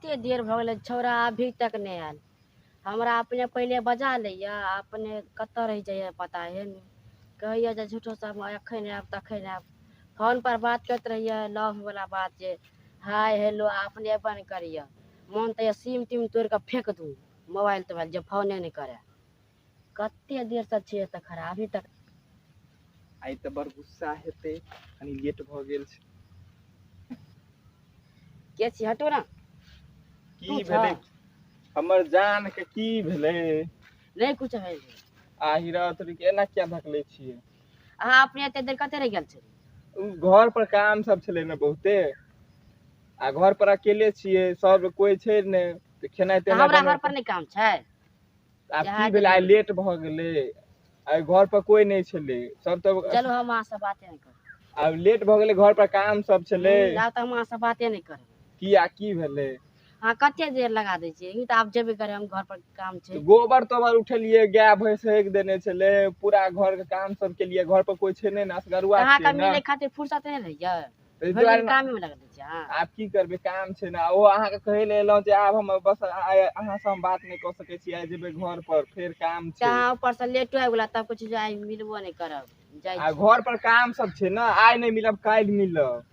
एते देर भऽ गेलै छौड़ा अभी तक नहि आयल हमरा अपने पहिले बजा लैए आ अपने कतऽ रहि जाइए पता हे ने कहैए जे झूठो सब हम एखन आयब तखन आयब फोन पर बात करैत रहिए लव वला बात जे हाय हेलो आ अपने अयबे नहि करैए मोन तऽ होइए सीम तीम तोड़ि कऽ फेक दू मोबाइल तोबाइल जे फोने नहि करय कते देर से छियै एतऽ खड़ा अभी तक आइ तऽ बड़ गुस्सा हेतै कनि लेट भऽ गेल छै के छी हटो ना की तू छह। भेलै हमर जान के की भेलै नहि कुछ है आहि रात रे एना किया धकले छियै अहाँ अपने एते देर कते रहि गेल छी उ घर पर काम सब छलै ने बहुते आ घर पर अकेले छियै सब कोइ छै ने तऽ खेनाइ तऽ तेनाइ हमरा घर पर बनबै- नहि काम छै आब जहा की भेल आइ गेलियै लेट भऽ गेलै आइ घर पर कोई नहि छलै सब तऽ चलू हम अहाँ से बाते नहि करब आब लेट भऽ गेलै घर पर काम सब छलै हूँ आब तऽ हम अहाँ से बाते नहि करब किया की भेलै अहाँ कते देर लगा दै छियै ई तऽ आब जेबे करै हम घर पर काम छै तऽ गोबर तोबर उठेलियै गाय भैंस हगि देने छलै पूरा घर के काम सब केलियै घर पर कोई छै नहि ने असगरुआ कहाँ छियै कमी ने नहि खातिर फुर्सत नहि रहैया ताहि भरि दुआरे दिन कामे मे लगा दै छियै अहाँ आब की करबै काम छै ने ओ अहाँके कहै लए एलहुँ जे आब हम बस आइ अहाँसँ हम बात नहि कऽ सकै छी आइ जेबै घर पर फेर काम तऽ छै अहाँ ऊपर से लेटो आबि गेला तब कुछ आइ मिलबो नहि करब जाइ आ छी। घर पर काम सब छै ने आइ नहि मिलब काल्हि मिलब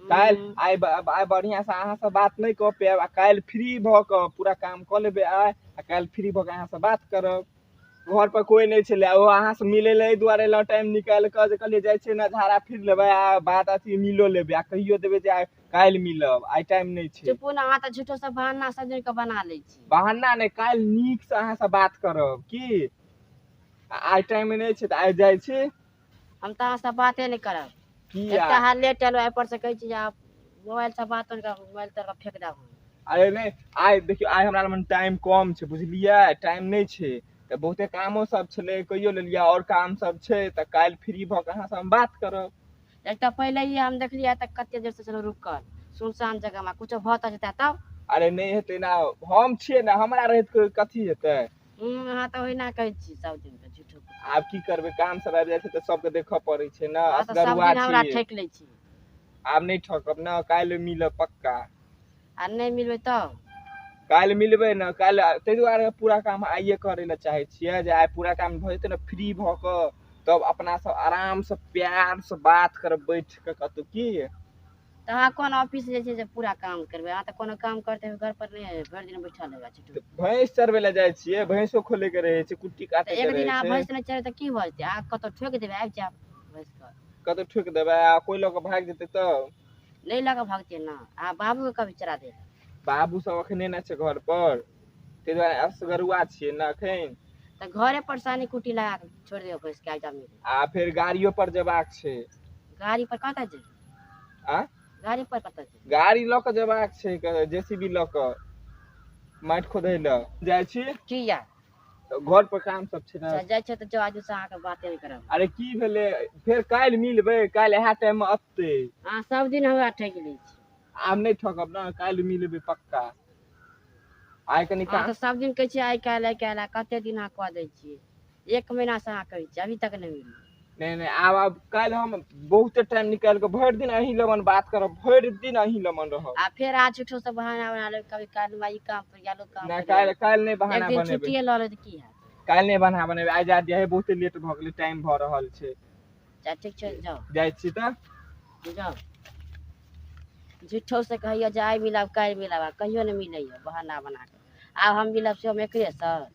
काल्हि हम्म, आइ ब- आइ बढ़िआँ से अहाँसँ बात नहि कऽ पायब आ काल्हि फ्री भऽ कऽ पूरा काम कऽ लेबै आइ आ काल्हि फ्री भऽ कऽ अहाँसँ बात करब घर पर कोई नहीं छे ओ अहाँ से मिले ले दुआरे ला टाइम निकाल कर जे कहले जाय छे ना धारा फिर लेबे आ बात अथी मिलो लेबे आ कहियो देबे जे आ- काल्हि मिलब आइ टाइम नहीं छे चुपू ना अहाँ तऽ झूठो सब बहाना सब जोड़ के बना लै छी बहाना नहीं काल्हि नीक से अहाँ से बात करब की आ आइ टाइम नहीं छे तऽ आइ जाय छी हम तऽ अहाँसँ बाते नहि करब किया एकटा हाल लेट एलहुँ एहिपर से कहै छी जे आब मोबाइलसँ बात नहि करब मोबाइल तर फेक देब हम। अरे नहि आइ देखियौ आइ हमरा लग टाइम कम छै बुझलियै टाइम नहि छै तऽ बहुते कामो सब छलै कहियो लेलियै आओर काम सब छै तऽ काल्हि फ्री भऽ कऽ अहाँसँ हम बात करब एक तऽ पहिले ही हम देखलियै तऽ कते देर से छलहुँ रुकल सुनसान जगहमे कुछो भऽ तऽ जेतै तब अरे नहि हेतै ने हम छियै ने हमरा रहैत कोइ कथी हेतै हूँ अहाँ तऽ ओहिना कहै छी सब दिन के झूठो के आब की करबै काम सब आबि जाइ छै तऽ सबके देखऽ पड़ै छै ने अहाँ तऽ सब असगरुआ दिन छी हमरा ठकि लै छी आब नहि ठकब ने काल्हि मिलब पक्का आ नहि मिलबै तऽ काल्हि मिलबै ने काल्हि ताहि दुआरे पूरा काम आइये करै लए चाहै छियै जे आइ पूरा काम भऽ जेतै ने फ्री भऽ कऽ तब अपना सब आराम से प्यार से बात करब बैठ कऽ कतौ की तऽ अहाँ कोन ऑफिस जे छै से पूरा काम करबै अहाँ तऽ कोनो काम करते घर पर नहि एबै भरि दिन बैठल रहबै छुट्टी तऽ भैंस चरबै लए जाइ छियै भैंसो खोले के रहे छै कुट्टी तऽ काटे एक के दिन अहाँ रहे छै भैंस नहि चढ़े तऽ की भऽ जेतै अहाँ कतहु ठोकि देबै आबि जायब भैंस कऽ कतौ ठोक देबै आ कोई लऽ के भागि जेतै तऽ नहि लऽ कऽ भगतै ने अहाँ बाबूके कभी चरा देबै बाबू सब अखने ने छै घर पर ताहि दुआरे असगरुआ छियै ने अखन तऽ घरे पर सानी कुट्टी लगा कऽ छोड़ि देबै भैंसके आबि जायब आ फेर गाड़ियो पर जेबाक छै गाड़ी पर कतऽ जेबै आ गाड़ी पर कतऽ जेबै गाड़ी लऽ कऽ जेबाक छै जेसीबी लऽ कऽ माटि खोदै लए जाइ छी किया घर पर काम सब छै ने अच्छा, जाइ छै तऽ जो आजू से अहाँके बाते नहि करब अरे की भेलै फेर काल्हि मिलबै काल्हि इएह टाइम मे अतै अहाँ सब दिन हमरा ठकि लै छी आब नहि ठकब ने काल्हि मिलबै पक्का आइ कनि अहाँ काम तऽ सब दिन कहै छियै आइ काल्हि आइ काल्हि आ कते दिन अहाँ कऽ दै छियै एक महीना से अहाँ कहै छी अभी तक नहि मिलल नहि नहि आब आब काल्हि हम बहुते टाइम निकालि कऽ भरि दिन अहीं लगन बात करब भरि दिन अहीं लगन रहब आ फेर अहाँ झूठो से बहाना बना लेब कभी काल हमरा ई काम पर गेलो काम नहि पर काल्हि गेलो। काल्हि नहि एक बहाना दिन बनेबै छुट्टिए लऽ लेब तऽ की हैत काल्हि नहि बहाना बनेबै आइ जा दिया हे बहुते लेट भऽ गेलै टाइम भऽ रहल छै जा ठीक छै जाउ जाइ छी तऽ जाउ झूठो से कहैया जे आइ मिलब काल्हि मिलब आ कहियो नहि मिलैया बहाना बना कऽ आब हम मिलब से हम एकरे सर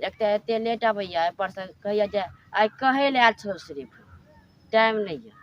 एक तऽ एते लेट अबैया एहिपर से कहैया जे आइ कहै लए आयल छौ सिर्फ टाइम नहि यऽ